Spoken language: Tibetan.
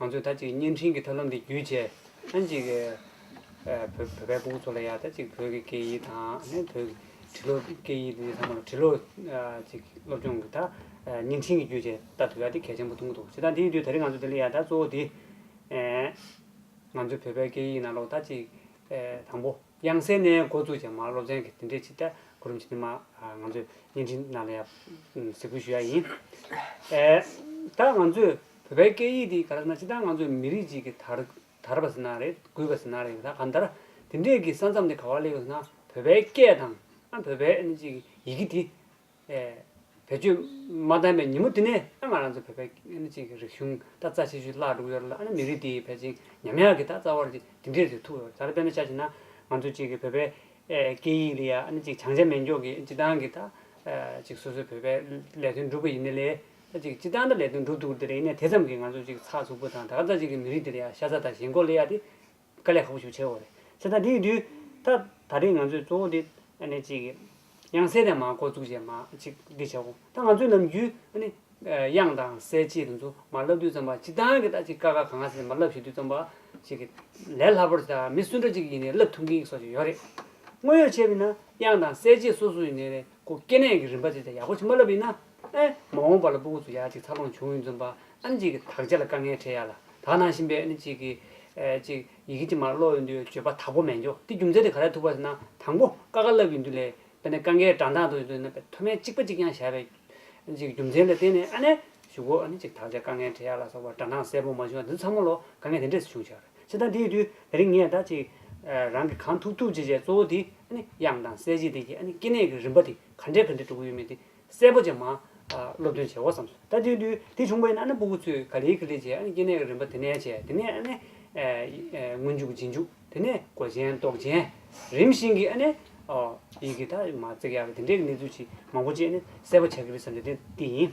ང་ཚོས་ད་ཅིག་བརྙན་འཕྲིན་གྱི་ཐབས་ལམ་འདི་བརྒྱུད་ཆེ་ཨང་ཅིག་བོད་པའི་པུའུ་ཚོ་ལ་ཡང་ད་ཅིག་བོད་ཀྱི་སྐད་ཡིག་དང་ནས་བོད་ཀྱི་བྲི་ཀློག་སྐད་ཡིག་འདི་ཚང་མ་ལ་བྲི་ཀློག་ཅིག་སློབ་སྦྱོང་གི་ད་བརྙན་འཕྲིན་གྱི་བརྒྱུད་ཆེ་ད་ཐུབ་ཡ་དེ་གལ་ཆེན་པོ་མཐོང་གི་འདུག་བྱས་ཙང་དེའི་དུས་ད་རིང་ང་ཚོ་དེ་ལ་ཡ་ད་གཙོ་བོ་དེ་ང་ཚོའི་བོད་པའི་སྐད་ཡིག་ནང་ལོག་ད་ཅིག་དང་པོ། དབྱངས་གསལ་ནས་འགོ་བཙུགས་ཀྱང་མ་སློབ་ཚན་གྱི་དེ་འདྲའི་ཕྱི་བལྟས་གོ་རིམ་ཞིག་ནི་མ་ང་ཚོས་བརྙན་འཕྲིན་ནང་ལ་ཡང་གཟིགས་འབུལ་ཞུ་ཡ་ཡིན། ད་ང་ཚོས་བོད་པའི་སྐད་ཡིག་འདི་ག་རེ་ཟེར་ན་སྤྱི་བཏང་ང་ཚོས་མི་རིགས་གཅིག་གི་དར་དར་བ་ཟེར་ན་རེད་རྒུད་པ་ཟེར་ན་རེད་ད་གང་ལྟར་དེ་འདྲས་ཀྱི་ས་མཚམས་དེ་ག་བ་ལེགས་ཟེར་ན་བོད་པའི་སྐད་དང་ཨ་བོད་པའི་ཡི་གེ་འདི། བེད་སྤྱོད་མ་བཏང་བའི་ཉིན་མོ་དེ་ནས་ང་རང་ཚོ་བོད་པའི་རིག་གཞུང་ད་རྩ་ཆེ་ཤོས་བརླག་འགྲོ་གི་ཡོད་རེད་ལ་མི་རིགས་འདི་ཕལ་ཆེར་ཉམས་ཡག་གི་ད་རྩ་བར་གྱི་དེ་འདྲས་ཐུག་ཡོད་རེད་ད་དཔེར་ན་ཆ་བྱས་ན་ང་ཚོ་གཅིག་བོད་པའི་སྐད་ཡིག་ལ་བྱང་ཆ་མེད་འཇོག་གིས་སྤྱི་བཏང་གི་ད་གཅིག་སོ་སོའི་བོད་པའི་ལས་དོན་སྒྲུབ་གི་ཡིན་ན་ལས་ད་གཅིག་སྤྱི་བཏང་ད་ལས་དོན་སྒྲུབ་ཐུབ་ཀྱི་ད་རེད་ཡིན་ན་དེ་ཙམ་གྱིས་ང་ཚོ་གཅིག་ཚགས་ཚུགས་པོ་དང་ད་ག་རྩ་གཅིག་གི་མི་རིགས་འདི་ལ་ཤ་ཚ་དང་ཞེན་ཁོག་སླེ་ཡག་དེ། དཀའ་ལས་ཁག་པོ་ཞིག་བྱས་ཡོད། བྱས་ན་དེའི་དུས་ད་ད་ལྟའི་ང་ཚོས་གཙོ་བོ་དེ་ཨ་ནི་གཅིག་དབྱངས་གསལ་དེ་མ་འགོ་བཙུགས་རྗེས་མ་གཅིག་འདི་བྱ་གོང་ད་ང་ཚོས་ནམ་རྒྱུན་ཨ་ནི་དབྱངས་དང་གསལ་བཅས་དེ་ཚོ་མ་བསླབ་དུས་ཙམ་པ་གཅིག་ཏང་གི་ད་ཅིག་དཀའ་ཁག་གང་སེ་མ་བསླབ་ཞུ་དུས་ཙམ་པ་ཞིག་གི་ལས་སླ་པོར་ད་མི་སུ་འདྲ་གཅིག་ཡིན་ནའི་བསླབ་ཐུབ་མཁན་སོགས་ཀྱི་ཡོད་རེད། དངོས་ཡོད་བྱས་པས་ན་དབྱངས་དང་གསལ་བཅས་སོ་སོ་ཡིན་ནའི་རེ་སྐུ་སྐྱེ་གནས་ཀྱི་རིམ་པ་བཅས་ད་ཡག་པོ་ཞིག་མ་བསླབ་པས་ན། ཨེ། མ་འོངས་པ་ལ་སྤུ་གུ་ཚོ་ཡག་ཅིག་འཚར་ལོངས་བྱུང་ཡོད་འཛོམས་པ་ཨ་མྱེས་ཀྱི་དག་ཆ་ལ་དཀའ་ངལ་འཕྲད་ཡག་ལ་དག་ནང་བཞིན་པའི་ཨ་ནི་ཅིག་གི། ཅིག་ཡི་གེ་ཅིག་མར་ཀློག་ཡོད་འདུག་བརྗོད་པ་དག་པོ་མེད་འགྱོག་དེ་རྒྱུ་མཚན་དེ་ག་རེ་ཐུག་པ་ཟེར་ན་དང་པོ་དཀའ་དཀའ་ལབ་ཡོད་འདུག་ལས་དཔེ་ནི་དཀའ་ངལ་དྲང་དྲང་ཐོག་ཡོད་འདུག་ཟེར་ན་དཔེ་མཐོ་དམན་གཅིག་པ་གཅིག་རྐྱང་བྱ་བའི། ཅིག་རྒྱུ་མཚན་ལ་བརྟེན་ནས་ཨ་ནེ། ཞུ་གོ་ཨ་ནི་ཅིག་དག་ཆ་དཀའ་ངལ་འཕྲད་ཡག་ལ་སོགས་པ་དྲང་དྲང་གསལ་པོ་མ་བྱུང་ཡང་འདི་ཚོ་ཚང་མ་ལོ་དཀའ་ངལ་དེ་འདྲས་སུ་བྱུང་ཆགས་རེད་སེ་ད་དེ་ཡོད་དུས་ད་རིང་ངས་ད་ཅིག། རང་གིས་གང་ཐུབ་ཐུབ་བྱས་བྱས་གཙོ་བོ་དེ་ཨ་ནི་དབྱངས་དང་གསལ་བྱེད་དེ་གྱིས་ཨ་ནི་སྐྱེ་གནས་ཀྱི་རིམ་པ་དེ་ག་འདྲས་ག་འདྲས་གྲུབ་ཀྱི་ཡོད་མེད་དེ། གསལ་པོ་ཅན་མ། སློབ་སྟོན་བྱའོ་བསམས་སོ། ད་དུས་དུས་དེ་བྱུང་བ་ཡིན་ན་ཨ་ན་པུ་གུ་ཚོས་ག་ལེའི་ཁི་ལེ་བྱས་ཨ་ན་སྐྱེ་གནས་ཀྱི་རིམ་པ་དེ་ནས་བྱས་དེ་ནས་ཨ་ནས། སྔོན་འཇུག་རྗེས་འཇུག་དེ་ནས་གོ་ཆེན་རྟོགས་ཆེན། རིམ་བཞིན་གྱི་ཨ་ནས། ཡི་གེ་དག་མ་བརྩེགས་ཡག་གི་དེ་འདྲས་ཀྱི་གནས་ཚུལ་ཅིག་མང་པོ་བཅས་ནས་གསལ་པོ་བྱ་གི་རེད་བསམ་ནས་དེ་འདི་ཡིན།